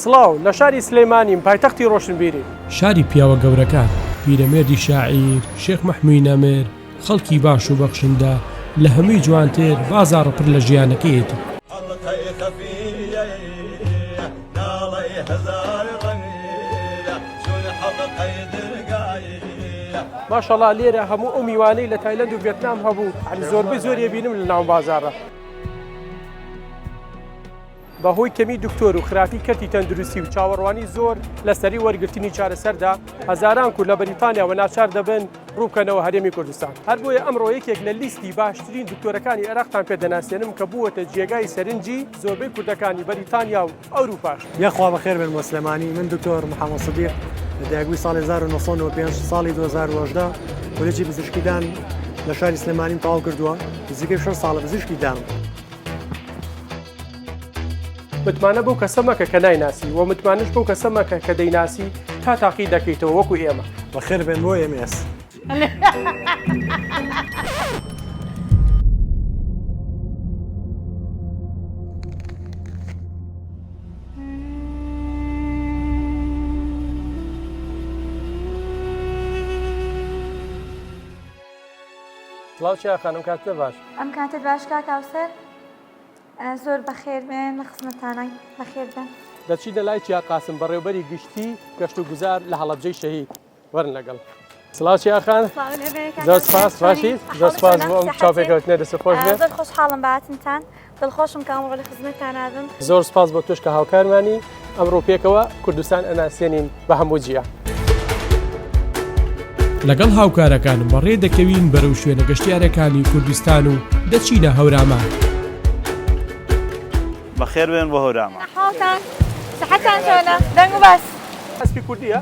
سڵاو، لە شاری سلیمانیم، پایتەختی ڕۆشنبیری. شاری پیاوە گەورەکان. پیرەمێردی شاعیر، شێخ مەحموی نەمر، خەڵکی باش و بەخشندە، لە هەموی جوانتر، بازاڕ پڕ لە ژیانەکەیەتی. ئەڵقەی خەفییەییە، ناڵەی هەزار ڕەنگییە، چون حەڵقەی درگاییە. ماشاءاللە لێرە هەموو ئەو میوانەی لە تایلەند و ڤێتنام هەبوو یانی زۆربەی زۆری ئەبینم لە ناوبازاڕە. بەهۆی کەمی دکتۆر و خراپی کەرتی تەندروستی و چاوەڕوانی زۆر لە سەری وەرگرتنی چارەسەردا، هەزاران کورد لە بەریتانیاوە ناچار دەبن ڕووبکەنەوە هەرێمی کوردستان. هەر بۆیە ئەمڕۆ یەکێک لە لیستی باشترین دکتۆرەکانی عێراقتان پێ دەناسێنم کە بووەتە جێگای سەرنجی زۆربەی کوردەکانی بەریتانیا و ئەوروپاش. یاخوا بەخێر بێن بۆ سلێمانی. من دکتۆر محەمەد سدیق، دایکبووی ساڵی هەزار و نۆ سەد و نۆ و پێنج، ساڵی دوو هەزار و هەژدە کۆلێجی پزیشکیدان لە شاری سلێمانیم تەواو کردووە، نزیکەی شەش ساڵە پزیشکی دام. متمانە بەو کەسە مەکە کە نایناسی و متمانش بەو کەسە مەکە کە دەیناسی تا تاقی دەکەیتەوە وەکو ئێمە بەخێر بێن بۆ ئێمێس. سڵاو چیا خانم کاتتە باش. ئەم کاتت باش کاک هاوسەر؟ زۆر بەخێربێن لە خزمەتانان بەخێربێن دەچیدە لای چیا قاسم بەڕێوبەری گشتی گەشت و گوزار لە هەڵەبجەی شەهید وەرن لەگەڵ سڵاو چیاخان زۆر سپاس باشی زۆر سپاس بۆ ئەم چاپێکەوتنە دەست خۆش بێت زۆر خۆشحاڵم باتنتان دڵخۆشم کە ئەمڕۆ لە خزمەتان نابم زۆر سپاس بۆ توش کە هاوکارمانی ئەمڕۆ پێکەوە کوردستان ئەناسێنین بە هەموو جیە. لەگەڵ هاوکارەکانم بەڕێ دەکەوین بەرەو شوێنە گەشتیارەکانی کوردستان و دەچینە هەورامان. بەخێربێن بۆ هەورامان. حاڵتان؟ سەحەتان چۆنە؟ دەنگ و باس. ئەسپی کوردییە؟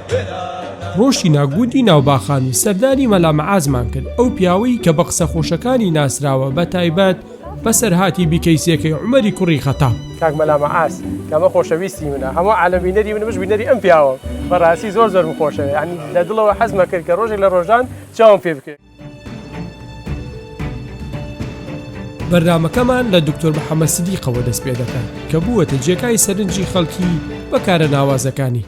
ڕۆشتینە گوندی ناوباخان و سەردانی مەلا مەعازمان کرد ئەو پیاوەی کە بە قسە خۆشەکانی ناسراوە بە تایبەت بەسەرهاتی بیکەیسیەکەی عومەری کوڕی خەتاب. کاک مەلا مەعاز کە ئەمە خۆشەویستی منە هەموو عالەم بینەری منە منش بینەری ئەم پیاوەم بەڕاستی زۆر زۆرم خۆشەوێ یانی لە دڵەوە حەزمەکرد کە ڕۆژێک لە ڕۆژان چاوم پێ بکەوێ. بەرنامەکەمان لە دکتۆر محەممەد سدیقەوە دەست پێ دەکەن کە بووەتە جێگای سەرنجی خەڵکی بەکارە ناوازەکانی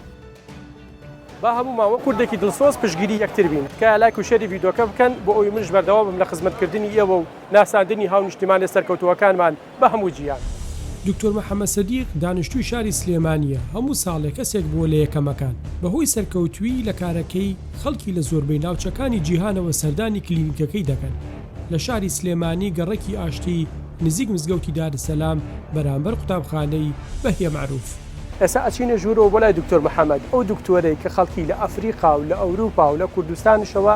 با هەموو ماوە کوردێکی دڵسۆز پشگیری یەکتر بین کە لای کوشێری ویددیوکە بکەن بۆ ئەوی منش بەردەوام بم لە خزمەتکردنی ئێوە و ناساندنی هاونیشتیمانێ سەرکەوتووەکانمان بە هەموو جیهان. دکتۆر محەمەد سدیق دانشتووی شاری سلێمانییە، هەموو ساڵێ کەسێک بووە لە یەکەمەکان، بەهۆی سەرکەوتوویی لە کارەکەی خەڵکی لە زۆربەی ناوچەکانی جیهانەوە سەردانی کلینیکەکەی دەکەن لە شاری سلێمانی گەڕەکی ئاشتی نزیک مزگەوتی دارسەلام بەرامبەر قوتابخانەی بەهیە مەعروف. ئێستا ئەچینە ژوورەوە بۆ لای دکتۆر محەمەد، ئەو دکتۆرەی کە خەڵکی لە ئەفریقا و لە ئەوروپا و لە کوردستانشەوە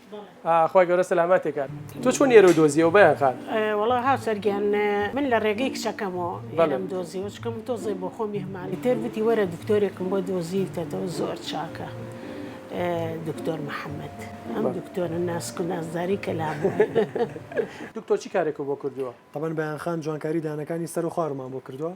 خوای گەورە سەلامەتت کات. تۆ چۆن ئێرەو دۆزیەوە بەیان خان؟ وەڵا هاوسەر گیان من لە ڕێگەی کچەکەمەوە ئێرەم دۆزیەوە چکە من تۆزێ بۆ خۆم میهمان ئیتر وتی وەرە دکتۆرێکم بۆ دۆزیوتەتەوە زۆر چاکە دکتۆر محەممەد ئەم دکتۆرە ناسک و نازداری کەلام دکتۆر چی کارێکە بۆ کردووە؟ تەبەن بەیان خان جوانکاری دانەکانی سەر و خوارمان بۆ کردووە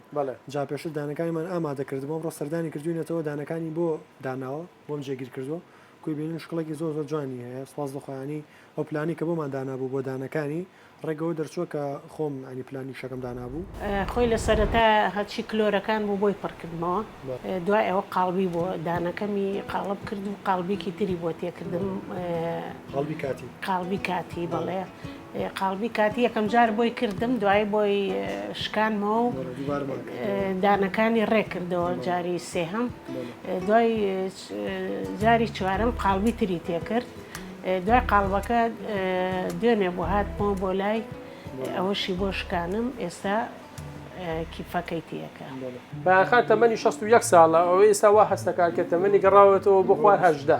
جا پێشتر دانەکانیمان ئامادە کردبووم ڕۆ سەردانی کردوینەتەوە دانەکانی بۆ داناوە. بۆم جێگیر کردوە کوی بینیم شکڵێکی زۆر زۆر جوانی هەیە سپاس بۆ خۆیانی ئەو پلانەی کە بۆمان دانابوو بۆ دانەکانی ڕێگەوە دەرچووە کە خۆم ئەنی پلانی شەکەم دانابوو. خۆی لە سەرەتا هەرچی کلۆرەکان بوو بۆی پڕ کردمەوە دوای ئەوە قاڵبی بۆ دانەکەمی قاڵب کرد و قاڵبێکی تری بۆ تێکردم قاڵبی کاتی قاڵبی کاتی بەڵێ قاڵبی کاتی یەکەم جار بۆی کردم دوایی بۆی شکانمەوە و دانەکانی ڕێکردەوە جاری سێهەم دوای جاری چوارم قاڵبی تری تێکرد دوای قاڵبەکە دوێنێ بۆ هاتمەوە بۆ لای ئەوەشی بۆ شکانم ئێستا کیفەکەی تێکە. بایەخان تەمەنی شەست و یەک ساڵە، ئەو ئێستا وا هەست دەکات کە تەمەنی گەڕاوەتەوە بۆ خوار هەژدە.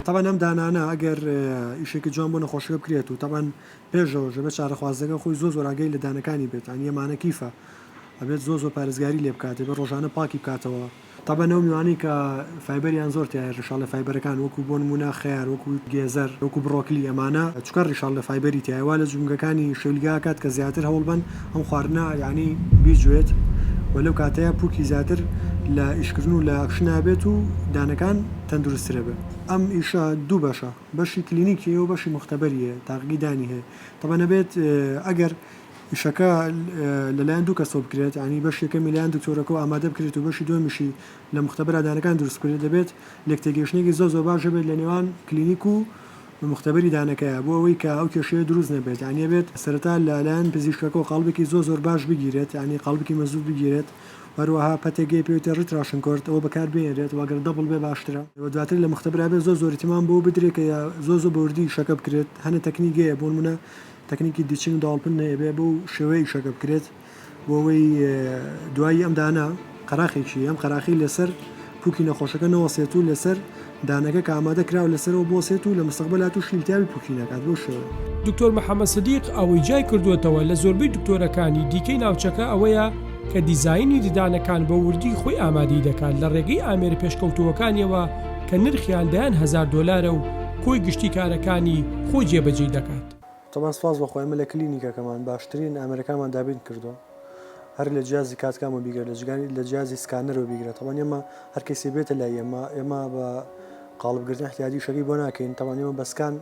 تەبعەن ئەم دانانە ئەگەر ئیشێکی جوان بۆ نەخۆشەکە بکرێت و تەبعەن پێشەوەش ئەبێت چارەخوازەکە خۆی زۆر زۆر ئاگای لە دانەکانی بێت، یانی ئەمانە کیفە ئەبێت زۆر زۆر پارێزگاری لێ بکات، دەبێت ڕۆژانە پاکی بکاتەوە. تەبەن ئەو میوانەی کە فایبەریان زۆر تیایە ڕیشاڵە فایبەرەکان وەکو بۆنمونە خەیار وەکو گێزەر وەکو بڕۆکلی ئەمانە چونکە ڕیشاڵە فایبەری تیایە وا لە جومگەکانی شەویلگە ئەکات کە زیاتر هەوڵبەن ئەم خواردنە یانی بیجوێت و لەو کاتەیا پوکی زیاتر لە ئیشکردن و لە ئەکشنا بێت و دانەکان تەندروسترە بێ. ئەم ئیشە دوو بەشە بەشی کلینیکی هەیە و بەشی موختەبەری هەیە تاقیگی دانی هەیە تەبەن ئەبێت ئەگەر. ئیشەکە لەلایەن دوو کەسەوە بکرێت، یانی بەشی یەکەمی لەلایەن دکتۆرەکەوە ئامادە بکرێت و بەشی دووەمیشی لە موختەبەرا دانەکان دروست بکرێت، دەبێت لێکتێگەیشتنێکی زۆر زۆر باش هەبێت لە نێوان کلینیک و موختەبەری دانەکەیا بۆ ئەوەی کە ئەو کێشەیە دروست نەبێت، یانی ئەبێت سەرەتا لە لایەن پزیشکەکەوە قاڵبێکی زۆر زۆر باش بگیرێت، یانی قاڵبکی مەزبووت بگیرێت و هەروەها پەتێک گەی پێوتێ ڕیتراشن کۆرد ئەوە بەکار بهێنرێت و گەر دەبڵ بێ باشترە و دواتر لە موختەبرا بێت زۆر زۆر ئیتیمام بەوە بدرێت کە زۆر زۆر بەوردی ئیشەکە بکرێت، هەنە تەکنیگەیە بۆنمونە تەکنیکی دیچین و داوڵپن ئەبێ بەو شێوەیە ئیشەکە بکرێت بۆ ئەوەی دوایی ئەم دانە قەراخێکی ئەم قەراخی لەسەر پوکی نەخۆشەکە نەوەسێت و لەسەر دانەکە کە ئامادە کراوە لەسەرەوە بۆسێت و لە مستەقبەلا تووشی التیاوی پوکی نەکات بۆ شێوە. دکتۆر محەمەد سدیق ئەوەی جیای کردووەتەوە لە زۆربەی دکتۆرەکانی دیکەی ناوچەکە ئەوەیە کە دیزاینی ددانەکان بە وردی خۆی ئامادەی دەکات لە ڕێگەی ئامێرە پێشکەوتووەکانیەوە کە نرخیان دەیان هەزار دۆلارە و کۆی گشتی کارەکانی خۆی جێبەجێی دەکات. تەمان سپاس بەخوا ئێمە لە کلینیکەکەمان باشترین ئامێرەکانمان دابین کردووە هەر لە جیازی کاتکامەوە بیگرە لە جگانی لە جیازی سکانەرەوە بیگرە تەمان ئێمە هەر کەیسێ بێتە لای ئێمە ئێمە بە قاڵب گرتن احتیادی شەکەی بۆ ناکەین تەمان ئێمە بە سکان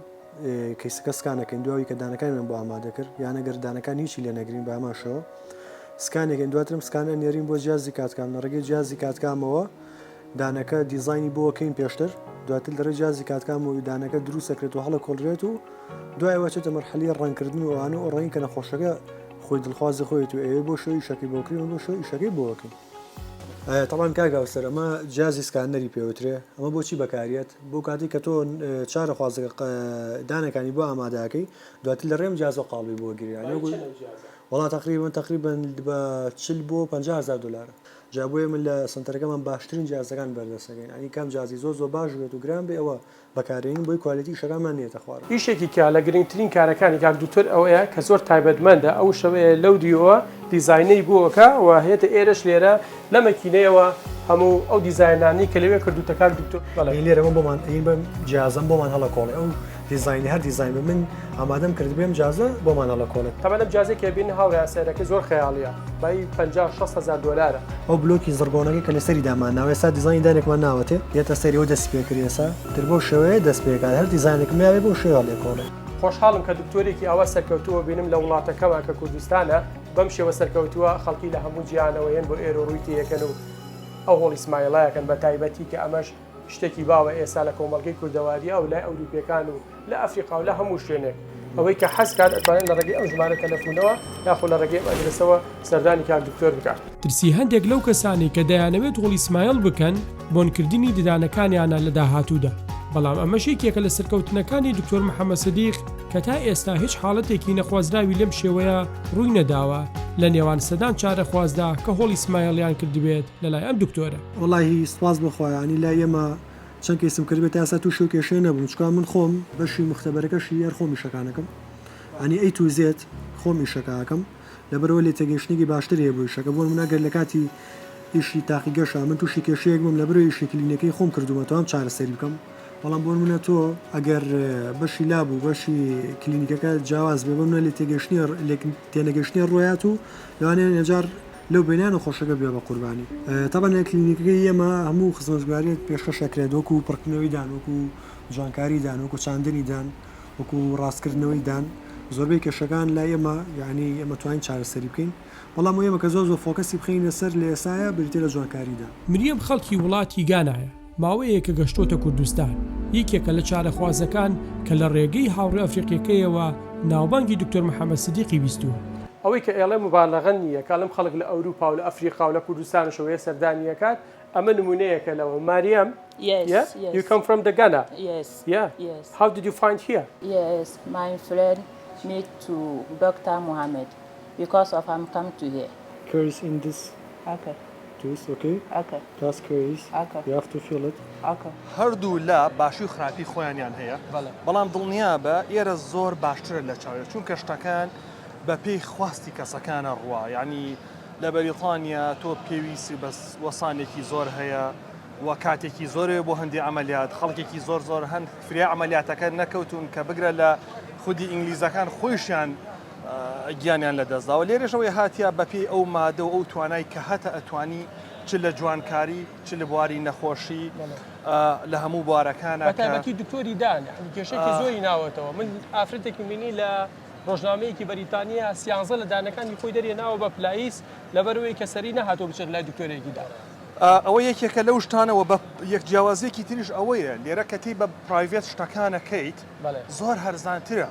کەیسەکە سکان ئەکەین دو ئەوی کە دانەکانیمان بۆ ئامادە کرد یان ئەگەر دانەکان هیچی لێ نەگرین بە هەمان شێوە سکان ئەکەین دواترم سکان ئەنێرین بۆ جیازی کاتکام لە ڕێگەی جیازی کاتکامەوە دانەکە دیزاینی بۆ کەین پێشتر دواتر لە رێ جیازی کاتکان بۆ دانەکە دروست دەکرێت و هەڵە کۆڵرێت و دوای وەچێتە مەرحەلی ڕەنکردن و ئەوانە و ڕەنگ کە نەخۆشەکە خۆی دڵخوازی خۆیت و ئەوێ بۆ شوی شەکی بۆکرین و بۆ شوی شەکەی بۆکەین تەڵان کاگاوسەر ئەمە جیازی سکانەری پێوترێ ئەمە بۆچی بەکاریت بۆ کاتی کە تۆ چارە خوازەکە دانەکانی بۆ ئامادەکەی دواتر لە ڕێم جیاز و قاڵبی بۆ گریان وڵات تقریبن تقریبن بە چل بۆ 500 دلار جا بۆیە من لە سەنتەرەکەمان باشترین جیازەکان بەردەست ئەکەین یانی کام جیازی زۆر زۆر باش بێت و گران بێ ئەوە بەکارێنین بۆی کوالێتی ئیشەکانمان نێتە خوارەوە. ئیشێکی کە لە گرنگترین کارەکانی کاک دوکتور ئەوەیە کە زۆر تایبەتمەندە ئەو شەوەیە لەو دیۆوە دیزاینەی بۆکا و هێتە ئێرەش لێرە لە مەکینەیەوە هەموو ئەو دیزاینانەی کە لەوێ کردووتە کاک دوکتور بەڵێ. ئەی لێرە من بۆمان ئەی بەم جیازەم بۆمان هەڵەکۆڵێ ئەو دیزاینی هەر دیزاین بە من ئامادەم کرد بێم جازە بۆ مانەڵە کۆنت. تەبەن ئەم جازەی کە بینن هاوڕێیان سەیرەکەی زۆر خەیاڵیە بایی پەنجا شەست هەزار دۆلارە. ئەو بلۆکی زڕگۆنەکەی کە لەسەری دامان ناوە ئێستا دیزاینی دانێکمان ناوەتێ یەتە سەری ئەو دەستی پێ کرد ئێسا تر بەو شێوەیە دەست پێ کات هەر دیزاینێکم ناوێ بەو شێوە لێ کۆڵێ. خۆشحاڵم کە دکتۆرێکی ئاوا سەرکەوتووە بینم لە وڵاتەکەمان کە کوردستانە بەم شێوە سەرکەوتووە خەڵکی لە هەموو جیهانەوە یەن بۆ ئێرۆ ڕووی تێیەکەن و ئەو هۆڵی سمایڵایەکەن بە تایبەتی کە ئەمەش شتێکی باوە ئێستا لە کۆمەڵگەی کوردەواریی ئەو لای ئەوروپییەکان و لە ئەفریقا و لە هەموو شوێنێک ئەوەی کە حەز کات ئەتوانێت لە ڕێگەی ئەم ژمارە تەلەفوونەوە یاخۆ لە ڕێگەی ئەم ئەدرەسەوە سەردانی کاک دکتۆر بکات. ترسی هەندێک لەو کەسانەی کە دەیانەوێت هۆڵی سمایل بکەن بۆن کردنی ددانەکانیانە لە داهاتوودا، بەڵام ئەمەش یەکێکە لە سەرکەوتنەکانی دکتۆر محەمەد سدیق کە تا ئێستا هیچ حاڵەتێکی نەخوازراوی لەم شێوەیە ڕووی نەداوە لە نێوان سەدان چارەخوازدا کە هۆڵی سمایلیان کردبێت لەلای ئەم دکتۆرە. وەڵاهی سوپاس بۆ خوا یانی لای ئێمە چەند کەیسم کردبێت تا ئێستا توشی ئەو کێشەیە نەبووم چکا من خۆم بەشی موختەبەرەکەشی هەر خۆم ئیشەکانەکەم یانی ئەی تو زێت خۆم ئیشەکە ئەکەم لەبەرەوە لێ تێگەیشتنێکی باشتر هەیە بۆ ئیشەکە بۆ نموونە گەر لە کاتی ئیشی تاقیگەشە من توشی کێشەیەک بووم لەبەرەوە ئیشی کلینەکەی خۆم کردوومە توام چارەسەری بکەم بەڵام بۆ نموونە تۆ ئەگەر بەشی لاب و بەشی کلینیکەکە جیاواز بێ بۆ نموونە لێ تێگەیشتنی لێک تێنەگەیشتنی ڕۆیات و لەوانەیە ئێجار لەو بینانە خۆشەکە بێ بە قوربانی تەبەن لە کلینیکەکەی ئێمە هەموو خزمەتگوزاریەک پێشکەش ئەکرێت وەکو پڕکردنەوەی دان وەکو جوانکاری دان وەکو چاندنی دان وەکو ڕاستکردنەوەی دان زۆربەی کێشەکان لای ئێمە یعنی ئێمە توانین چارەسەری بکەین بەڵام ئێمە کە زۆر زۆر فۆکەسی بخەینە سەر لە ئێساە بریتە لە جوانکاریدا. مریەم خەڵکی وڵاتی گانایە. ماوەیەکە گەشتۆتە کوردستان، یەکێکە لە چارەخوازەکان کە لە ڕێگەی هاوڕێ ئەفریقیەکەیەوە ناوبانگی دکتۆر محمد سدیقی بیستووە. ئەوەی کە ئێڵێ موبالەغە نی یە، کە ئەڵێم خەڵک لە ئەوروپا و لە ئەفریقا و لە کوردستانش وە یە سەردانی ئەکات، ئەمە نمونەیەکە لەوە. ماریەم، یە، یو کەم فرام دە گانا، یە، هاو دید یو فایند هیە؟ یەس مای فرێند میت تو دۆکتا موهامێد بیکۆز ئۆف ئەم کەم تو هیە. کیوریس ئین دس. ئۆکەی. توس ئۆکەی تاس کوەیس یاف تو فیڵت ئۆکەی. هەردوو لا باشی و خراپی خۆیانیان هەیە بەڵام دڵنیابە ئێرە زۆر باشترە لە چاوێ چونکە شتەکان بە پێی خواستی کەسەکانە ڕوا یانی لە بەریتانیا تۆ پێویسی بە وەسانێکی زۆر هەیە و کاتێکی زۆرێ بۆ هەندی ئەمەلیات خەڵکێکی زۆر زۆر هەند فریا ئەمەلیاتەکە نەکەوتون کە بگرە لە خودی ئینگلیزەکان خۆیشیان گیانیان لەدەستداوە لێرەش ئەوەی هاتیە بەپێی ئەو مادە و ئەو توانای کە هەتە ئەتوانی چ لە جوانکاری چ لە بواری نەخۆشی لە هەموو بوارەکان بەتابەتی دکتۆری دان کێشێکی زۆری ناوەتەوە من ئافرەتێکی مینی لە ڕۆژنامەیەکی بەریتانیا سیانزە لە دانەکانی خۆی دەرێ ناوە بە پلاییس لەبەروەی کە سەری نەهاتۆ بچێت لای دکتۆرێکی دان. ئەوە یەکێکە لەو شتانەوە بە یەک جیاوازیەکی تریش ئەوەیە لێرە کەتی بە پرایڤێت شتەکانەکەیت زۆر هەرزانترە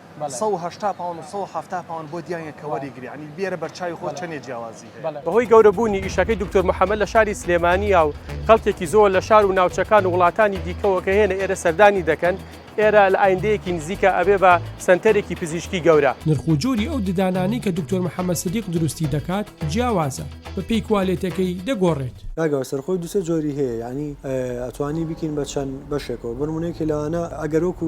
سەد و هەشتا پاوەن و سەد و حەفتا پاوەن بۆ دیاریە کە وەریگری ینی بیێرە بەرچوی خۆ چەنێ جیاوازی هەیە. بەهۆی گەورەبوونی ئیشەکەی دکتۆر محەمەد لە شاری سلێمانییە و خەڵکێکی زۆر لە شار و ناوچەکان و وڵاتانی دیکەوە کە هێنە ئێرە سەردانی دەکەن، ئێرە لە ئایندەیەکی نزیکا ئەبێ بە سەنتەرێکی پزیشکی گەورە. نرخ و جۆری ئەو ددانانەی کە دکتۆر محەمەد سدیق دروستی دەکات جیاوازە، بە پێی کوالێتەکەی دەگۆڕێت. کاکە سەرخۆی دوسێ جۆری هەیە یانی ئەتوانی بیکەین بە چەند بەشێکەوە بەنمونە یەکێ لەوانە ئەگەر وەکو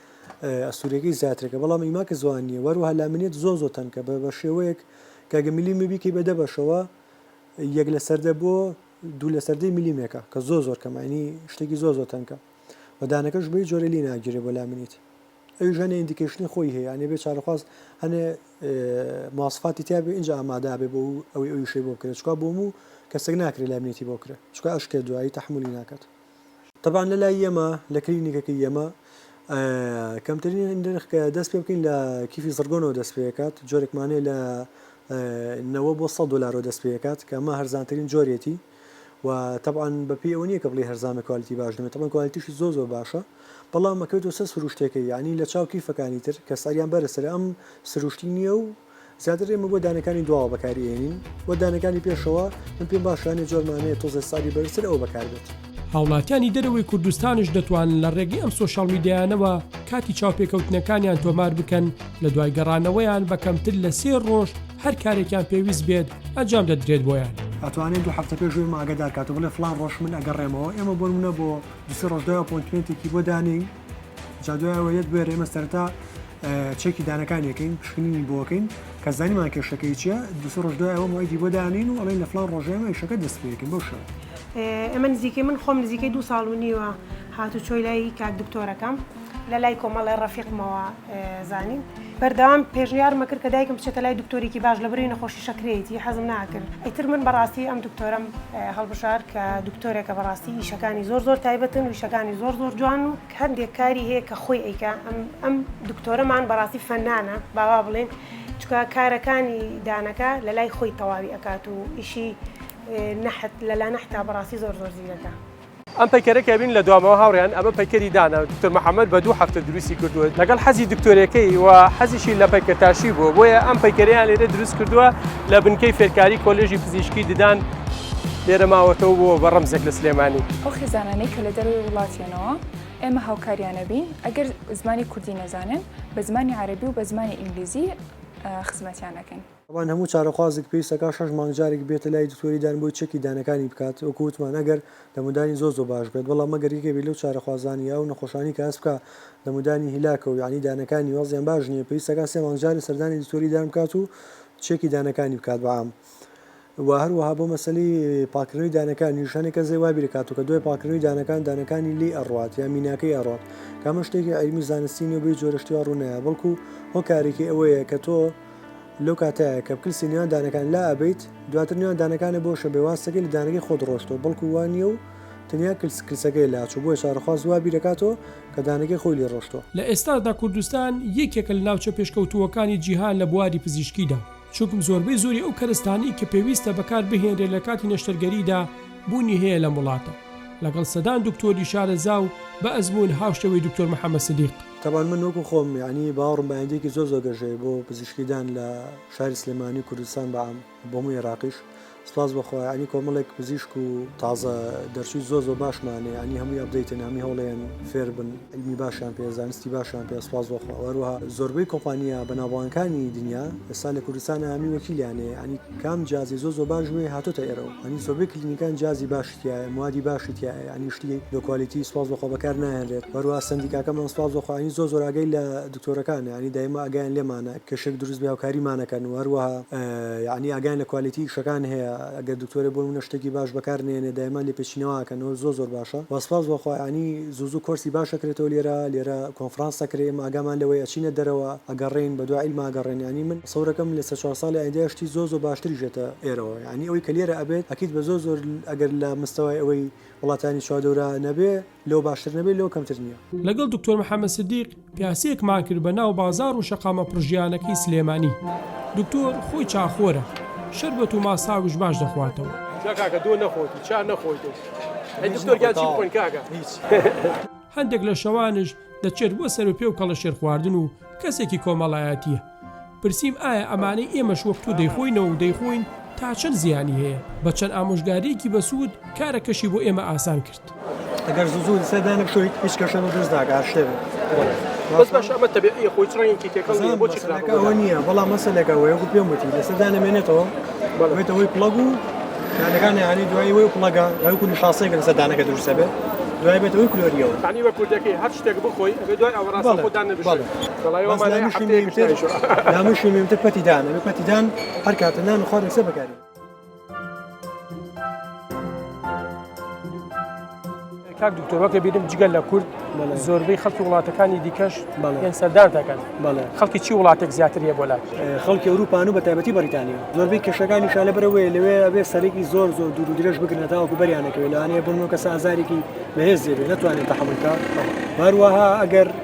ئەستورەکەی زیاترەکە بەڵام ئیما کە زوان نیە وەروها لامنیت زۆ زۆ تەنکە بە بە شێوەیەک کە گە ملی مبی کەی بە دە بەشەوە یەک لە سەر دە بۆ دوو لە سەر دەی ملی مێکە کە زۆ زۆر کەمە ینی شتێکی زۆ زۆ تەنکە و دانەکەش بەی جۆرە لی ناگیرێ بۆ لامنیت ئەویش هەنێ ئیندیکەیشنی خۆی هەیە یانێ بێ چارەخواز هەنێ مواسفاتی تیا بێ ئینجا ئامادا بێ بۆ ئەوی ئەوی شەی بۆ بکرێت چکا بۆ موو کەسێک ناکرێت لامنیتی بۆ کرێت چکا ئەشکێت دوایی تەحمولی ناکات تەبعەن لە لای ئێمە لە کلینیکەکەی ئێمە کەمترین نرخ کە دەست پێ بکەین لە کیفی زڕگۆنەوە دەست پێکات جۆرێکمان هەیە لە نەوە بۆ 100 دلارەوە دەست پێکات کە ئەمە هەرزانترین جۆرێتی و تەبعەن بە پێی ئەوە نییە کە بڵێ هەرزانە کوالیتی باش نەبێت تەبعەن کوالیتیشی زۆر زۆر باشە بەڵام ئەکەوێتەوە سەر سروشتەکەی یعنی لە چاو کیفەکانی تر کە سعریان بەرزترە ئەم سروشتی نییە و زیاتر ئێمە بۆ دانەکانی دواوە بەکاری ئێنین وە دانەکانی پێشەوە من پێم باشە هەنێ جۆر مانەیە تۆزێ سالی بەرزتر ئەوە بەکار بێت. هاوڵاتیانی دەرەوەی کوردستانش دەتوانن لە ڕێگەی ئەم سۆشیاڵ میدیایانەوە کاتی چاوپێکەوتنەکانیان تۆمار بکەن لە دوای گەڕانەوەیان بە کەمتر لە سێ ڕۆژ هەر کارێکیان پێویست بێت ئەنجام دەدرێت بۆیان. ئەتوانێ دوو هەفتە پێش ئێمە ئاگەدار کات و بڵێ فڵان ڕۆژ من ئەگەڕێمەوە ئێمە بۆ نموونە بۆ دوو سێ ڕۆژ دوای ئەپۆینتمێنتێکی بۆ دانێین جا دوای ئەوە یەت بوێرێمە سەرەتا چەکی دانەکانی یەکەین پشکنینی بۆکەین کە زانیمان کێشەکەی چیە دوسە ڕۆژ دوای ئەوە مایدی بۆ دانین و ئەڵین لە فلان ڕۆژێمە یشەکە دەست پێکن بۆ شەوە ئەمە نزیکەی من خۆم نزیکەی دو ساڵ و نیوە هاتو چۆی لای کاک دکتۆرەکەم لە لای کۆمەڵی ڕەفیقمەوە زانین بەردەوام پێشنیارمە کرد کە دایکم بچێتە لای دکتۆرێکی باش لە بری نەخۆشی شەکرێتی حەزم ناکرد ئیتر من بەڕاستی ئەم دکتۆرم هەڵبژار کە دکتۆرێکە بەڕاستی ئیشەکانی زۆر زۆر تایبەتن ویشەکانی زۆر زۆر جوان و هەندێک کاری هەیە کە خۆی ئەیکا ئەم ئەم دکتۆرەمان بەڕاستی فەنانە باوا بڵێن چکە کارەکانی دانەکە لە لای خۆی تەواوی ئەکات و ئیشی نەحت لەلا نەحتا بەڕاستی زۆر زۆر زیرەکە. ئەم پەیکەرە کە ئەبینن لە دواومەوە هاوڕێیان ئەمە پەیکەری دانە دکتۆر محمد بە دوو هەفتە دروستی کردووە لەگەڵ حەزی دکتۆرەکەی و حەزیشی لە پەیکەرتاشی بووە بۆیە ئەم پەیکەریان لێرە دروست کردووە لە بنکەی فێرکاری کۆلێژی پزیشکی ددان لێرە ماوەتەوە بۆ بە ڕەمزێک لە سلێمانی. ئەو خێزانانەی کە لە دەرەوەی وڵاتیان. نەوە ئێمە هاوکاریانە بین ئەگەر زمانی کوردی نەزانن بە زمانی عەرەبی و بە زمانی ئینگلیزی خزمەتیان ئەکەین. تابان هەموو چارەخوازێک پێویستەکا شەش مانگ جارێک بێتە لای دکتۆری دان بۆی چەکی دانەکانی بکات وەکو وتمان ئەگەر دەمودانی زۆر زۆر باش بێت بەڵام ئەگەر یەکێک بێت لەو چارەخوازانەی ئەو نەخۆشانی کە هەست بکا دەمودانی هیلاکە و یەعنی دانەکانی وەزعیان باش نیە پێویستەکا سێ مانگ جارێ سەردانی دکتۆری دان بکات و چێکی دانەکانی بکات بەعام وە هەروەها بۆ مەسەلەی پاکردنەوەی دانەکانیش هەنێ کەس لێ وابیر ئەکات و کە دوای پاکردنەوەی دانەکان دانەکانی لێی ئەڕوات یا میناکەی ئەڕوات کە ئەمە شتێکی عیلمی و زانستی نیە و بەهیچ جۆرە شتێ ڕوو نایە بەڵکو هۆکارێکی ئەوەیە کە تۆ لەو کاتەیە کە پکلسی نێوان دانەکان لا ئەبەیت دواتر نێوان دانەکانت بۆ شەبێ واستەکەی لە دانەکەی خۆت ڕۆشتۆ بەڵکو وا نیە و تەنیا کلس کلسەکەی لا چوو بۆیە چارەخواز وابیر ئەکاتۆ کە دانەکەی خۆی لێ ڕۆشتۆ. لە ئێستاشدا کوردستان یەکێکە لە ناوچە پێشکەوتووەکانی جیهان لە بواری پزیشکیدا، چونکم زۆربەی زۆری ئەو کەرستانەی کە پێویستە بەکار بهێنرێت لە کاتی نەشتەرگەریدا بوونی هەیە لەم وڵاتە لەگەڵ سەدان دکتۆری شارەزا و بە ئەزموون هاوشێوەی دکتۆر محمد سدیق. تەبان من وەکو خۆم یەعنی باوەڕم بە ئایندەیەکی زۆر زۆر گەشەیە بۆ پزیشکیدان لە شاری سلێمانی و کوردستان بە عام و بۆ هەموو ئێراقیش، سپاس بۆ خوا ینی کۆمەڵێک پزیشک و تازە دەرچووی زۆ زۆ باشمانێ ینی هەمووی ئەبدەیتن هەمی هەوڵێن فێربن علمی باشیان پێ زانستی باشیان پێ سپاس بۆ خوا وەروها زۆربەی کۆمپانیا بەناوبانگەکانی دنیا ئێستا لە کوردستان هەمی وەکیلیانێ ینی کام جیازی زۆ زۆ باش وێ هاتۆتە ئێرەوە ینی زۆربەی کلینیکان جیازی باش تیایە موادی باشی تیایە یانی شتی لۆ کوالیتی سوپاس بۆخوا بەکار نایەنرێت وەروها سەندیکاکەمان سوپاس بۆخوا ینی زۆر زۆر ئاگای لە دکتۆرەکانە یانی دایمە ئاگایان لێمانە کێشەێک دروست بێ هاوکاریمان ئەکەن و هەروەها یانی ئاگایان لە کوالیتی ئیشەکان هەیە گەر دکتۆرێ بۆ نمونە شتێکی باش بەکار نەیەنێ دایمە لێپێچینەوە ئەکەن و زۆر زۆر باشە وە سوپاس بۆخوا یانی زوو زوو کۆرسی باش ئەکرێتەوە لێرە لێرە کۆنفرانس ئەکرێ ئێمە ئاگامان لەوەیە ئەچینە دەرەوە ئەگەڕێین بەدوا عیلما ئەگەڕێن یانی من تەسەورەکەم لە سێ چوار ساڵی ئایندە شتی زۆر زۆر باشتریش ئێتە ئێرەوە. یەعنی ئەوەی کە لێرە ئەبێت ئەکید بە زۆر زۆر ئەگەر لە مستەوای ئەوەی وڵاتانی چواردەورا نەبێ لەوە باشتر نەبێ لەوە کەمتر نیە. لەگەڵ دکتۆر محمد سدیق پیاسێکمان کرد بە ناو بازار و شەقامە پڕ ژیانەکەی سلێمانی. دکتۆر خۆی چاخۆرە. شەربەت و ماساویش باش دەخواتەوە. نا کاکە دۆ نەخۆیت و چا نەخۆیت و ئەی دکتۆر گیان چی بخۆین کاکە هیچ. هەندێک لە شەوانش دەچێت بۆ سەروپێ و کەڵەشێرخواردن و کەسێکی کۆمەڵایەتیە. پرسیم ئایا ئەمانەی ئێمەش وەک تۆ دەیخۆینەوە و دەیخۆین تا چەند زیانی هەیە؟ بە چەند ئامۆژگارییەکی بەسوود کارەکەشی بۆ ئێمە ئاسان کرد. ئەگەر زوو زوو لەسەر دانەبتویت هیچ کێشەیەک دروست ناکات هەر شتێک بێت مەسەلەکە ئەوە نییە بەڵام مەسەلەکە ئەوەیە وەکو پێم وتی لەسەر دانەمێنێتەوە بێتە هۆی پڵەگ و دانەکان یانی دوایی وەی پڵەگە وەکو نیشاسەیەکە لەسەر دانەکە دروستە بێت دوای بێتەوەی کلۆریەوە بەڵێ. بەس لامشی مێمتر لامشی مێمتر پەتی دانە بە پەتی دان هەر کاتە نان و خواردن سێ بەکاری کاک دکتۆرەکە بیرم جگەل لە کورد زۆربەی خەڵکی وڵاتەکانی دیکەش پێن سەردان دەکەن خەڵکی چی وڵاتێک زیاتر هەیە بۆ لات خەڵکی ئەوروپان و بە تایبەتی بەریتانیا زۆربەی کێشەکانی شالە برەوەی لەوێ ئەبێ سەرێکی زۆر زۆر دوور و درێژ بگرنە تاوکو بەریانەکەوێت لەوانەیە بن و کەس ئازارێکی بەهێز زێبێت ناتوانێت تەحملکە باروەها ئەگەر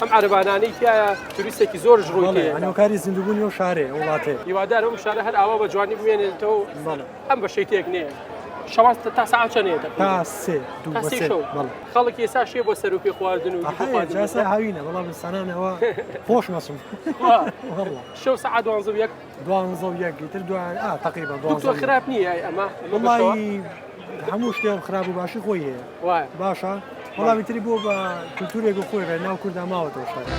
ئەم عەرەبانانەی تایە توریستێکی زۆرش ڕووی هەنوکاری زیندوبوونی و شارێ وڵاتێ هیوادار ئەم شارە هەر ئاوا بە جوانی بمێنێتەوە ئەم بە شەی تێک نێ شەواز تا ساعت چەنێت خەڵک ئێسا شێ بۆ سەر و پێ خواردن و هاوینە بەڵام سانانەوە خۆش مەسم شەو سعات دوانزە یەک دوانزە و یەک ئیتر دوان ئا تەقریبا دوانزە دکتۆر و یەک. خراپ نییە ئای ئەمە ئەمە بەشەوە؟ وڵی هەموو شتێن خراپ و باشی خۆی هەیە وایە باشە وەڵامی تری بۆ بە کلتورێک و خۆی بێ ناو کووردا ماوەتەوە شتەکە.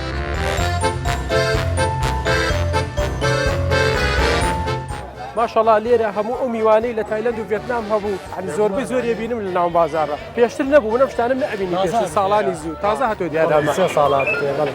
ماشەڵا لێرە هەموو ئەو میوانەی لە تایلەند و ڤێتنام هەبوو هەنی زۆربەی زۆر ئەبینم لە ناو بازاڕە پێشتر نەبوو من ئەم شتانەم نەئەبینی پێشتر ساڵانی زوو تازە هاتۆ دیارە ئەمە. سێ ساڵە هاتووتەوە بەڵێ.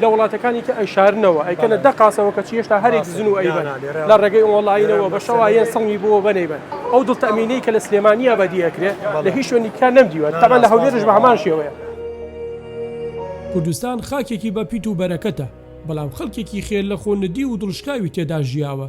لە وڵاتەکانی تر ئەیشارنەوە ئەیکەنە دە قاسەوە کەچی هێشتا هەرێک زن و ئەیبەن لە ڕێگەی ئۆنڵاینەوە بە شەوایەن سڵمی بۆ بەنەیبەن ئەو دڵ تەمینەی کە لە سلێمانیە بەدی ئەکرێ لە هیچ شوێنی تیا نەمدیوە تەبەن لە هەولێرش بە هەمان شێوەیە. کوردستان خاکێکی بە پیت و بەرەکەتە، بەڵام خەڵکێکی خێر لە خۆ ندیو و دڵشکاوی تێدا ژیاوە،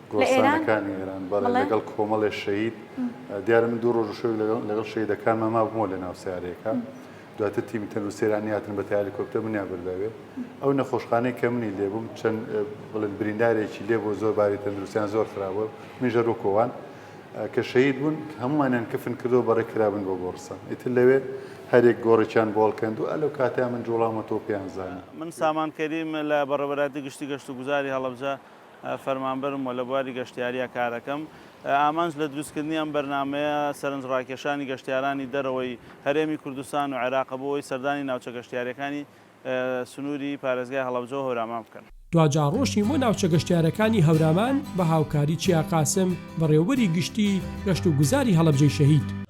گۆڕستانەکانی ئێران بەڵێ لەگەڵ کۆمەڵێ شەهید دیارە من دوو ڕۆژ و شەوێک لەگەڵ شەهیدەکانمان مابوومەوە لەناو سەیارەیەکە دواتر تیمی تەندروستی ئێرانی هاتن بە هێلیکۆپتەر منیان برداوێ ئەو نەخۆشخانەی کە منی لێبووم چەند بڵێن بریندارێکی لێ بۆ زۆر باری تەندروستیان زۆر خراوە منیژە ڕووکۆوان کە شەهید بوون هەمومانیان کفن کردەوە بەڕێ کرابن بۆ گۆڕستان ئیتر لەوێ هەرێک گۆڕێکیان بۆڵکەند و ئەلو کاتیان من جوڵامەتەوە پێیان زانە من سامان کەریم لە بەڕێوەبەرایەتی گشتی گەشت و گوزاری هەڵەبجە فەرمانبەرم و لە بواری گەشتیارییە کارەکەم. ئامانج لە دروستکردنی ئەم بەرنامەیە سەرنجڕاکێشانی گەشتیارانی دەرەوەی هەرێمی کوردستان و عێراقە بۆ ئەوەی سەردانی ناوچە گەشتیارییەکانی سنووری پارێزگای هەڵەبجە و هەورامان بکەن. دواجار ڕۆشتین بۆ ناوچە گەشتیارەکانی هەورامان بە هاوکاری چیا قاسم، بەڕێوەبەری گشتی گەشت و گوزاری هەڵەبجەی شەهید.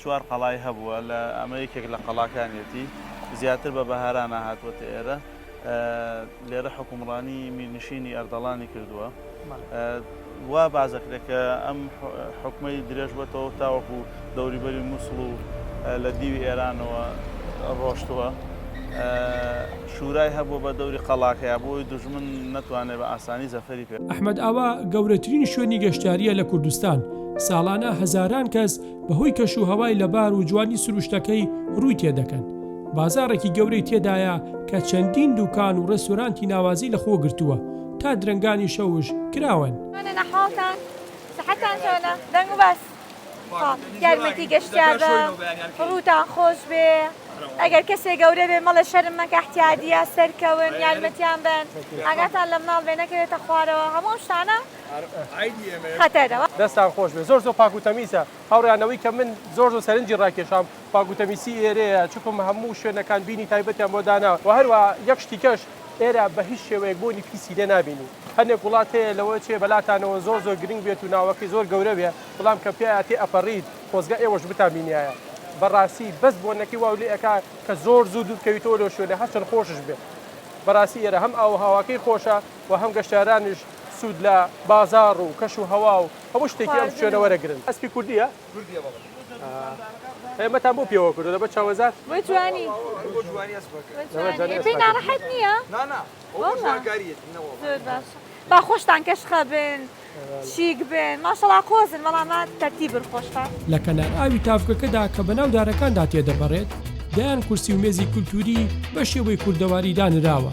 چوار قەڵای هەبووە لە ئەمە یەکێک لە قەڵاکانیەتی زیاتر بە بەهارانە هاتووەتە ئێرە لێرە حکومڕانی میرنشینی ئەردەڵانی کردووە وا بازەکرێت کە ئەم حکومەی درێژ بەتەوە تاوەکو دەوریبەری مووسڵ و لە دیوی ئێرانەوە ڕۆشتووە شورای هەبووە بە دەوری قەڵاکەیا بۆ ئەوەی دوژمن نەتوانێت بە ئاسانی زەفەری پێ ئەحمەد ئاوا گەورەترین شوێنی گەشتیارییە لە کوردستان، ساڵانە هەزاران کەس بەهۆی کەشوهەوای لەبار و جوانی سروشتەکەی رووی تێدەکەن. بازاڕێکی گەورەی تێدایە کە چەندین دووکان و رێستۆرانتی ناوازەی لەخۆ گرتووە، تا درەنگانی شەوش کراوەن. یارمەتی گەشتیار بە ڕووتان خۆش بێ ئەگەر کەسێک گەورە بێ مەڵە شەرم مەکە احتیادیە سەرکەون یارمەتیان بن ئاگاتان لە مناڵ بێ نەکەوێتە خوارەوە هەموو شتانە خەتەرەوە دەستان خۆش بێ زۆر زۆر پاک و تەمیسە هاوڕیانەوەی کە من زۆر زۆر سەرنجی ڕاکێشام پاک و تەمیسی ئێرەیە چکم هەموو شوێنەکان بینی تایبەتیان بۆ دانا و هەروە یەک شتیکەش ئێرە بە هیچ شێوەیەک بۆنی پیسی لێ نابینی. هەنێک وڵات هەیە لەوە چێ بەلاتانەوە زۆر زۆر گرنگ بێت و ناوەکەی زۆر گەورە بێ بەڵام کە پیایا تێ ئەپەڕیت خۆزگا ئێوەش بتان بینیایە بەڕاستی بەس بۆنەکەی واو لێ ئەکا کە زۆر زوو دوور بکەویتەوە لۆ شوێنە هەرچەند خۆشش بێ بەڕاستی ئێرە هەم ئاو و هەواکەی خۆشە و هەم گەشتارانش سوود لە بازاڕ و کەش و هەوا و هەموو شتێکی ئەم خواردن شوێنە و وەرەگرن. ئەسپی کوردییە؟ ئێمەتان بۆ پێوە کردو لەبەر چاوەزار بۆ جوانی بۆ جوانی پێی ناڕەحەت نییە با خۆشتان کەشخە بن شیک بن ماشەڵا قۆزن بەڵامات تەرتی بن خۆشتان لە کەنار ئاوی تاڤگەکەدا کە بەناو دارەکاندا تێدەپەڕێت دەیان کورسی و مێزی کولتووری بە شێوەی کوردەواری دانراوە.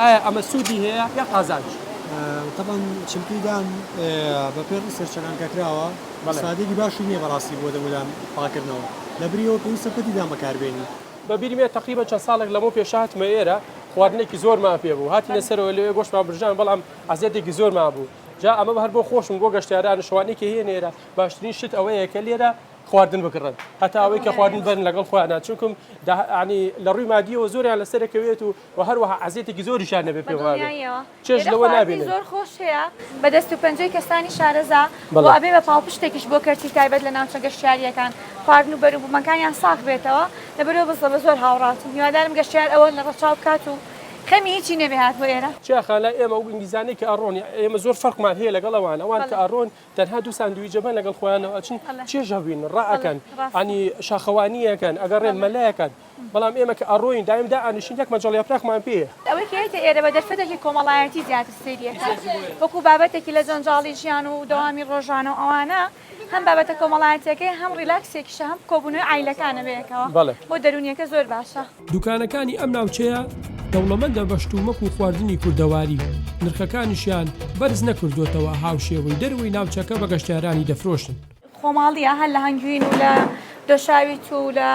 ئایا ئەمە سوودی هەیە یا قازانج؟ تەبعەن چمپی دان بە پێ ی سەرچەکان کە کراوە سادێکی باشی نییە بەڕاستی بۆ دەمودان پاکردنەوە لە بری ئەوە پێویستە پەتی دان بەکاربێنی. بە بیرم یە تەقریبەن چەند ساڵێک لەمەو پێش هاتمە ئێرە خواردنێکی زۆرمان پێ بوو هاتینە سەرەوە لەوێ گۆشتمان برژاند بەڵام عەزێتێکی زۆرمان بوو جا ئەمە هەر بۆ خۆشم بۆ گەشتیارانش ئەوانەی کە هێن ئێرە باشترین شت ئەوەیە کە لێرە خواردن بکڕن هەتا ئەوەی کە خواردن بەرن لەگەڵ خۆیانا چونکم دا یانی لە ڕووی مادیەوە زۆریان لەسەرەکەوێت و وە هەروەها عەزێتێکی زۆریشیان نەبێت پێم وابێ بەدڵنیاییەوە چێژ لێرە لەوە خواردنی نابینن. زۆر خۆش هەیە بە دەست و پەنجەی کەسانی شارەزا بەڵێ. وە ئەبێ بە پاڵپشتێکیش بۆ کەرتی تایبەت لە ناوچە گەشتیارییەکان خواردن و بەروبومەکانیان ساغ بێتەوە لەبەرئەوە بەس بە زۆر هاوڕاتم هیوادارم گەشتیار ئەوە لە ڕەچاو بکات و خەمی هیچی نەبێ هاتبوە ئێرە. چیاخان لای ئێمە ئەو ئینگلیزانەی کە ئەڕۆن ئێمە زۆر فەرقمان هەیە لەگەڵ ئەوان ئەوان کە بەڵێ. ئەڕۆن تەنها دوو ساندویجە بەن لەگەڵ خۆیانەوە ئەچن چێژ هەبوین ڕائەکەن ئەنی شاخەوانیەکەن ئەگەڕێن مەلەکەن بەڵام ئێمە کە ئەڕۆین دایم دا ئەنیشین یەک مەجەڵ یاپراخمان پێیە. ئەوەی کە یەتە ئێرە بە دەرفەتێکی کۆمەڵایەتی زیاتر سەیری ئەکات وەکو بابەتێکی لە جەنجاڵی ژیان و دەوامی ڕۆژانە و ئەوانە هەم بابەتە کۆمەڵایەتیەکەی هەم ڕیلاکسێکیشە هەم کۆبونەوەی عایلەکانە بەیەکەوە بۆ دەرونیەکە زۆر باشە. دوکانەکانی ئەم ناوچەیە دەوڵەمەندە بە شتومەک و خواردنی کوردەواری نرخەکانیشیان بەرز نەکردوێتەوە هاوشێوەی دەروی ناوچەکە بە گەشتارانی دەفرۆشن. خۆماڵیە هەر لە هەنگوین و لە دۆشاوی تو لە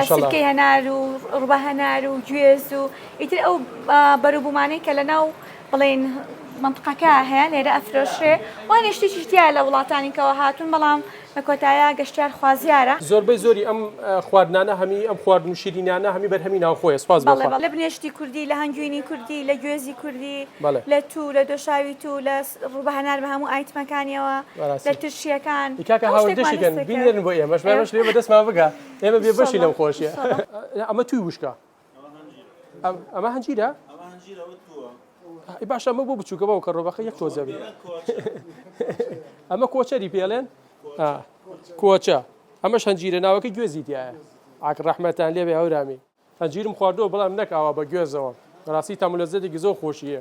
سلکەی هەنار و ڕبە هەنار و گوێز و ئیتر ئەو بەروبوومانەی کە لە ناو بڵین منتقەکە هەیە لێرە ئەفرۆشێ وانێ شتێکیشتیا لە وڵاتانیکەوە هاتون بەڵام لە کۆتایا گەشتیار خوازیارە. زۆربەی زۆری ئەم خواردنانە هەمی ئەم خواردن و شیرینیانە هەمی بەرهەمی ناوخۆیە سوپاس بۆ خوا. بەڵێ بەڵێ لە بنێشتی کوردی لە هەنگوینی کوردی لە گوێزی کوردی بەڵێ. لە توو لە دۆشاوی توو لە ڕووبە هەنار بە هەموو ئایتمەکانیەوە بەراستی. لە ترشیەکان ئی کاکە هەموو هاوەر شتێکمان دەشی کەن دەست دەکەوێت. بینێرن بۆ ئێمەش ئێمەش لێ بە دەستمان بگا ئێمە بێ بەشی لەم ئینشەڵا خۆشیە ئینشەڵا. ئەمە تووی وشکە. ئەمە هەنجیرە باشە ئەمە بۆ بچووکە بەو کە ڕۆبەکە یەک تۆزەبی ئەمە کۆچەری پێڵێن کۆچە ئەمە شەنجیرە ناوەکە گوێزی دیە ئاک ڕەحمەتان لێبێ هەورامی هەنجیرم خواردەوە بەڵام نەکاوە بە گوێزەوە ڕاستی تامولەزەێکی زۆر خۆشیە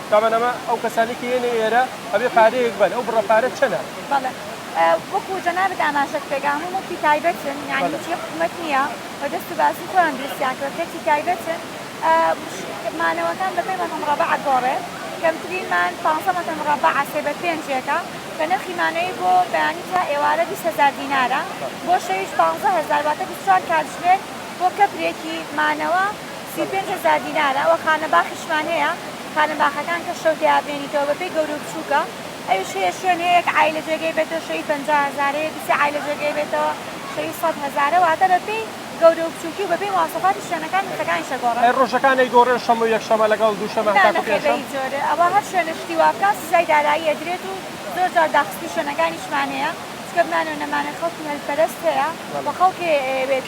تابان ئەمە ئەو کەسانەی کە یەنە ئێرە ئەبێ پارەیەک بەن ئەو بڕە پارە چەنە؟ بەڵێ وەکو جەنابت ئاماژەت پێدا هەموو مڵکی تایبەتن یعنی بەڵێ. هیچی حکومەت نییە و دەست و باسی خۆیان دروستیان کردووە کەرتی تایبەتن ئا ش مانەوەکان بە پێنج مەتر مڕەبەع ئەگۆڕێ کەمترین مان پانزە مەتر مڕەبەعە سێ بە پێنجێکە کە نرخی مانەوەی بۆ بەیانی تا ئێوارە بیست هەزار دینارە بەڵێ. بۆ شەویش پانزە هەزار واتە بیست و چوار کاتژمێر بۆ کەپرێکی مانەوە سی و پێنج هەزار دینارە، ئەوە خانە باخیشمان هەیە، خانە باخەکان کە شەو تێیا بمێنیتەوە بەپێی گەورو بچوکە، ئەویش هەیە شوێن هەیە یەک عایلە جێگەی بێتەوە شەوی پەنجا هەزارە، یەکی سێ عایلە جێگەی بێتەوە شەوی سەد هەزارە، واتە بەپێی گەورو بچوکی و بەپێی مواصفاتی شوێنەکان نرخەکانیش ئەگۆڕن. ئەی ڕۆژەکان ئەیگۆڕێن شەمە و یەکشەمە لەگەڵ دووشەمە نا هەتاکو نەخێر پێنجشەم؟ بەهیچ جۆرێ ئەوە هەر شوێنە شتی وابکات سزای دارایی ئەدرێت و زۆر جار داخستی شوێنەکانیشمان هەیە چکە بمانەوە نەمانەوە خەڵکی هەل پەرست هەیە وە خەڵکێ ئەیەوێت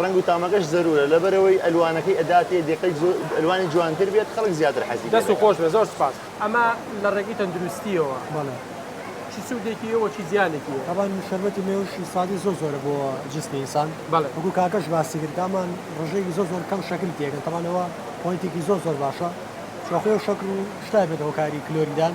ڕەنگ و تامەکەش زەرورە لەبەرئەوەی ئەلوانەکەی ئەداتێ دێکەی زۆر ئەلوانی جوانتر بێت خەڵک زیاتر حەزی لێ دەست و دەکات. خۆش بێت زۆر سوپاس. ئەمە لە ڕێگەی تەندروستییەوە بەڵێ چ سوودێکی هەیە و چی زیانێکی هەیە؟ تەبان شەربەتی مێوش سوادی زۆر زۆرە بۆ جسمی ئینسان بەڵێ. وەکو کاکەش باسی کرد دامان ڕژێکی زۆر زۆر کەم شەکری تێکەن تەبان ئەوە پۆینتێکی زۆر زۆر باشە چوە خۆێ شەکر و شتای بێت هۆکاری کلۆریدان.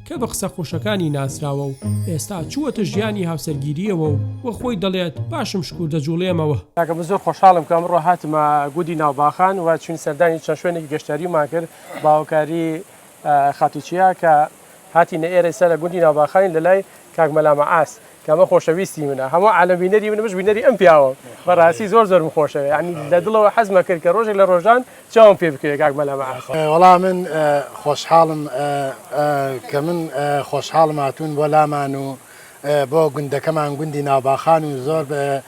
کە بە قسە خۆشەکانی ناسراوە و ئێستا چووەتە ژیانی هاوسەرگیرییەوە و وە خۆی دەڵێت باشم شکور دەجوڵێمەوە. کاکە من زۆر خۆشحاڵم کە ئەمڕۆ هاتمە گوندی ناوباخان و چوین سەردانی چەند شوێنێکی گەشتیاریمان کرد بە هاوکاری خاتوو چیا کە هاتینە ئێرە ئێستا لە گوندی ناوباخانین لەلای کاک مەلا مەعاس. کامە خۆشەویستی منە هەموو عالەم بینەری منە منش بینەری ئەم پیاوەم بەڕاستی زۆر زۆرم خۆشەوێ ینی لە دڵەوە حەزمە کرد کە ڕۆژێک لە ڕۆژان چاوم پێ بکەوێ کاک مەلا مەعاش. وەڵا من خۆشحاڵم کە من خۆشحاڵم هاتوون بۆ لامان و بۆ گوندەکەمان گوندی ناوباخان و زۆر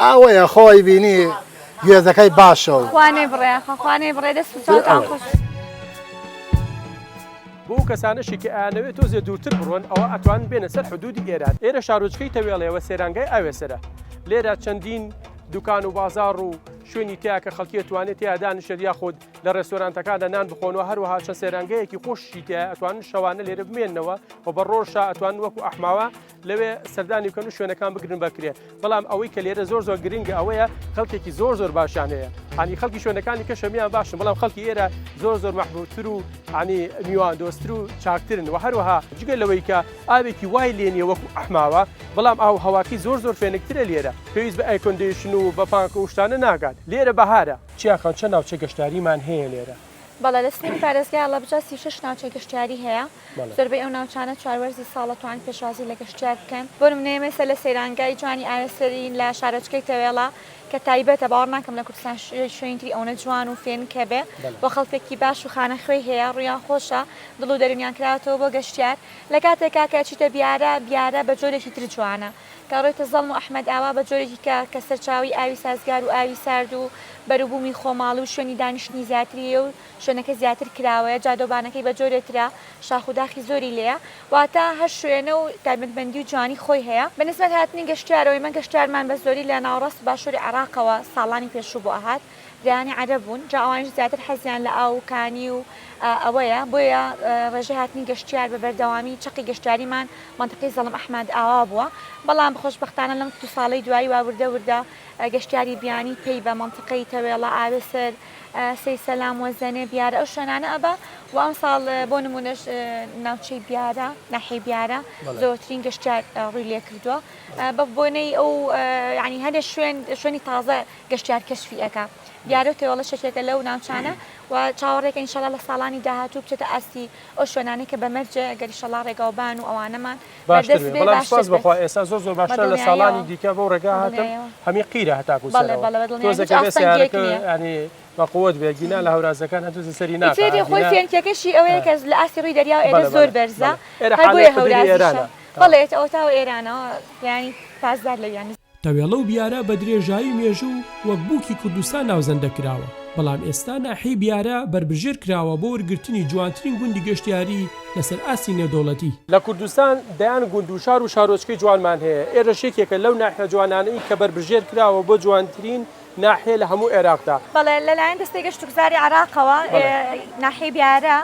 ئاوەیە خۆ ئەیبینی گوێزەکەی باشە و. خوا نەیبڕێ ئاخۆ خوا نەیبڕێ دەست و چاوتان خۆش. بۆ ئەو کەسانەشی کە ئەیانەوێ تۆزێ دوورتر بڕۆن ئەوا ئەتوانن بێنە سەر حدوودی ئێران ئێرە شارۆچکەی تەوێڵێ وە سەیرانگای ئاوێسەرە لێرە چەندین دوکان و بازاڕ و شوێنی تیا کە خەڵکی ئەتوانێت تیا دانیشێت یاخود لە ڕێستۆرانتەکاندا نان بخۆن و هەروەها چەند سەیرانگەیەکی خۆشی تیا ئەتوانن شەوانە لێرە بمێنەوە و بە ڕۆژا ئەتوان وەکو ئەحماوە لەوێ سەردانی بکەن و شوێنەکان بگرن بە کرێ بەڵام ئەوەی کە لێرە زۆر زۆر گرنگە ئەوەیە خەڵکێکی زۆر زۆر باشیان هەیە هەنی خەڵکی شوێنەکانی کە شەمیان باشن بەڵام خەڵکی ئێرە زۆر زۆر مەحبوتر و عنی میوان دۆستر و چاکترن و هەروەها جگە لەوەی کە ئاوێکی وای لێنیە وەکو ئەحماوە بەڵام ئاو هەواکی زۆر زۆر فێنکترە لێرە پێویست بە ئەیکۆندیشن و بە پانکە وشتانە ناگات لێرە بەهارە چیاکان چە ناوچە گەشتاریمان هەیە لێرە؟ بەڵێ لە سنووری پارێزگای هەڵەبجە سی و شەش ناوچەی گەشتیاری هەیە، زۆربەی ئەو ناوچانە چوار وەرزی ساڵ دەتوانن پێشوازی لە گەشتیار بکەن، بۆ نموونە ئێمە ئێستا لە سەیرانگای جوانی ئاوێ سەرین لە شارۆچکەی تەوێڵە کە تایبەتە، باوەڕ ناکەم لە کوردستان شوێنی تری ئەونە جوان و فێنک هەبێ و خەڵکێکی باش و خانەخوێی هەیە، ڕوویان خۆشە، دڵ و دەروونیان کراوەتەوە بۆ گەشتیار، لە کاتێکا کە ئەچیتە بیارە، بیارە بە جۆرێکی تر جوانە. گەڕێتە زەڵم و ئەحمەدئاوا بە جۆرێکی کە کە سەرچاوەی ئاوی سازگار و ئاوی سارد و بەروبوومی خۆماڵی و شوێنی دانیشتنی زیاتری لێیە و شوێنەکە زیاتر کراوەیە جادەوبانەکەی بە جۆرێ ترە شاخ و داخی زۆری لێیە واتە هەر شوێنە و تایبەتمەندی و جوانی خۆی هەیە. بە نسبەت هاتنی گەشتیارەوە ئێمە گەشتیارمان بە زۆری لە ناوەڕاست و باشووری عێڕاقەوە ساڵانی پێشوو بۆ ئەهات دەیانی عەرەب بوون جا ئەوانیش زیاتر حەزیان لە ئاو و کانی و ئەوەیە بۆیە ڕێژەی هاتنی گەشتیار بە بەردەوامی چەقی گەشتیاریمان مەنتەقەی زەڵم ئەحمەد ئاوا بووە بەڵام خۆشبەختانە لەم دوو ساڵەی دوایی وا وردە وردە گەشتیاری بیانی پەی بە مەنتەقەی تەوێڵە ئاوێسەر سەیسەلام وەزەنێ بیارە ئەو شوێنانە ئەبا و ئەمساڵ بۆ نمونەش ناوچەی بیارە ناحیەی بیارە زۆرترین گەشتیار ڕووی لێ کردووە بە بۆنەی ئەو ینی هەندێک شوێن شوێنی تازە گەشتیار کەشفی ئەکا دیارە و تێوەڵەش یەکێکە لەو ناوچانە و چاوەڕێکە ئینشەڵا لە ساڵانی داهاتوو بچێتە ئاستی ئەو شوێنانەی کە بە مەرجێ گەر ئیشەڵا ڕێگاوبان و ئەوانەمان باشتر بێ بەڵام سوپاس بەخوا ئێستا زۆر زۆر باشترە لە ساڵانی دیکە بەو ڕێگا هاتم هەمی قیرە هەتاکو تۆزەکە سیارەکە ینی بەقوت بێ گینا لە هەورازەکان هەتوزە سەری ناێری خۆی فێنکەکەشی ئەوەیە کە لە ئاستی ڕووی دەریا ئێرە زۆر بەرزە هەر بۆیە هەورازە بەڵێت ئەوتاوە ئێرانەوە ینی پاسدار لە یانی تەوێڵە و بیارە بە درێژایی مێژوو وەک بووکی کوردستان ناوزەندە کراوە، بەڵام ئێستا ناحیەی بیارە بەربژێر کراوە بۆ ورگرتنی جوانترین گوندی گەشتیاری لەسەر ئاستی نێودەوڵەتی. لە کوردستان دەیان گوند و شار و شارۆچکەی جوانمان هەیە، ئێرەش یەکێکە لەو ناحیە جوانانەی کە بەربژێر کراوە بۆ جوانترین ناحیە لە هەموو عێراقدا. بەڵێ، لەلایەن دەستەی گەشتوگوزاری عێراقەوە ناحیەی بیارە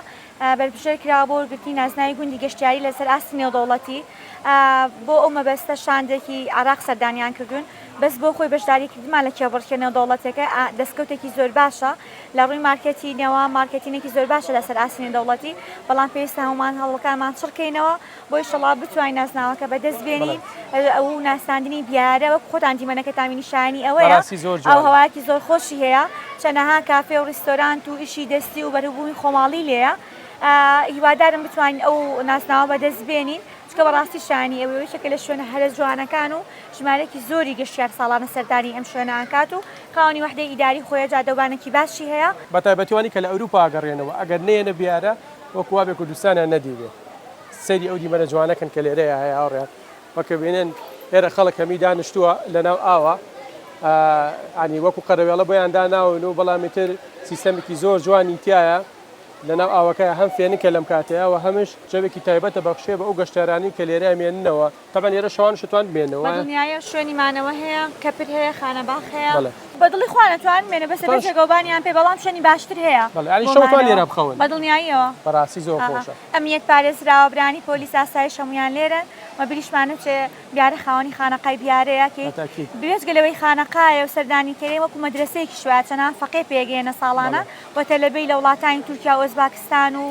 بەربژێر کراوە بۆ وەرگرتنی نازناوی گوندی گەشتیاری لەسەر ئاستی نێودەوڵەتی، بۆ ئەو مەبەستە شاندێکی عێراق سەردانیان کردوون، بەس بۆ خۆی بەشداریکردنمان لە کێبڕکێ نێودەوڵەتیەکە دەستکەوتێکی زۆر باشە، لە ڕووی مارکێتینەوە مارکێتینێکی زۆر باشە لەسەر ئاستی نێودەوڵەتی، بەڵام پێویستە هەموومان هەوڵەکانمان چڕکەینەوە. بۆ ئیشەڵا بتوانین نازناوەکە بەدەست بێنین ئەو ناساندنی دیارە وەک خۆتان دیمەنەکە تامی نیشانی ئەوەیە ئەو هەواکی زۆر خۆشی هەیە چەنەها کافێ و ڕیستۆرانت و ئیشی دەستی و بەرەبوومی خۆماڵی لێە هیوادارم بتوانین ئەو ناسناوە بەدەست بێنین چکە بەڕاستی شانی ئەوەیە شەکە لە شوێنە هەرە جوانەکان و ژمارەێکی زۆری گەشتیار ساڵانە سەردانی ئەم شوێنانکات و خاوەنی وحدەی ئیداری خۆیە جادەوبانێکی باشی هەیە بەتایبەتیوانی کە لە ئەوروپا گەڕێنەوە ئەگەر نێنە بیارە وەک وابێ کوردستانیان نەدیبێ. سەیری ئەو دیمەنە جوانە کەن کە لێرەیا هەیە هاوڕێیان. وە کە بینن ئێرە خەڵک هەمی دانشتووە لە ناو ئاوا. یانی وەکو قەرەوێڵە بۆیان داناون و بەڵام ئیتر سیستەمێکی زۆر جوانی تایە لە ناو ئاوەکەیا هەم فێنکە لەم کاتەیا و هەمیش جەوێکی تایبەتە بەخشێ بە ئەو گەشتیارانی کە لێرەیا مێننەوە. تەبەن ئێرە شەوان شتوان بێنەوە دنیاە شوێنی مانەوە هەیە کەپر هەیە خانە باخ هەیە بە دڵی خوانەتوان مێنە بەسە جێگەوبانیان پێ بەڵام شوێنی باشتر هەیە شەوان لێرە بخەون بە دڵنیاییەوە بەڕاستی زۆر خۆشە ئەمیت پارێزراوە برانی پۆلی ساسایی شەمویان لێرە مە بریشمانە چێ دیارە خاوەنی خانەقای دیارەیە کە بێژگە لەوەی خانەقاە و سەردانی کەێ وەکو مەدرسەیەکی شوواچەنان فەقێ پێگەێنە ساڵانە و تەلەبەی لە وڵاتانی تورکیا و ئۆزباکستان و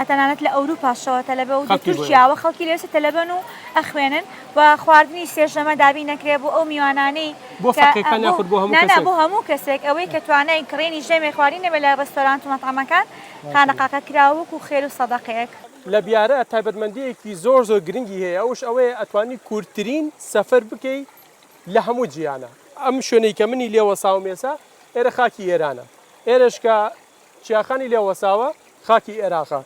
تەنانەت لە ئەوروپاشەوە تەلەبە و تورکیاوە خەڵکی لەوێ تەلەبەن و ئەخوێنن و خواردنی سێژەمە دابین نەکرێ بۆ ئەو میوانانەی بۆ فەقێکان یاخود بۆ هەموو کەسێک بۆ هەموو کەسێک ئەوەی کە توانای کڕینی ژەمێ خواردنی نەبێت لە ڕێستۆرانت و مەتعەمەکان خانەقاکە کراوە وەکوو خێر و سەدەقەیەک. لە بیارە تایبەتمەندییەکی زۆر زۆر گرنگی هەیە ئەوش ئەوەیە ئەتوانی کورتترین سەفەر بکەی لە هەموو جیهانا ئەم شوێنەی کە منی لێ وەساوم ئێسا ئێرە خاکی ئێرانە ئێرەش کە چیاخانی لێ وەساوە خاکی ئێراقە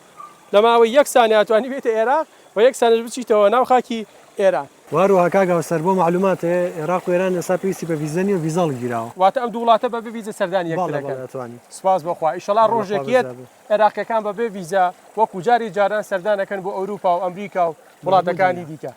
لە ماوەی یەک سانیە ئەتوانی بێیتە ئێراق و یەک سانیەش بچیتەوە ناو خاکی ئێران. وهروها کاک هاوسەر بۆ معلوماتت ئێراق و ئێران ئێستا پێویستی بە ڤیزە نیە ڤیزا هەڵگیراوە. واتە ئەم دوو وڵاتە بەبێ ڤیزە سەردانی یەکتر ئەکەن؟ بەڵێ بەڵێ ئەتوانی. سوپاس بۆ خوا ئیشەڵا ڕۆژێک یەت ئێراقیەکان بەبێ ڤیزە وەکو جاری جاران سەردان ئەکەن بۆ ئەوروپا و ئەمریکا و وڵاتەکانی دیکە.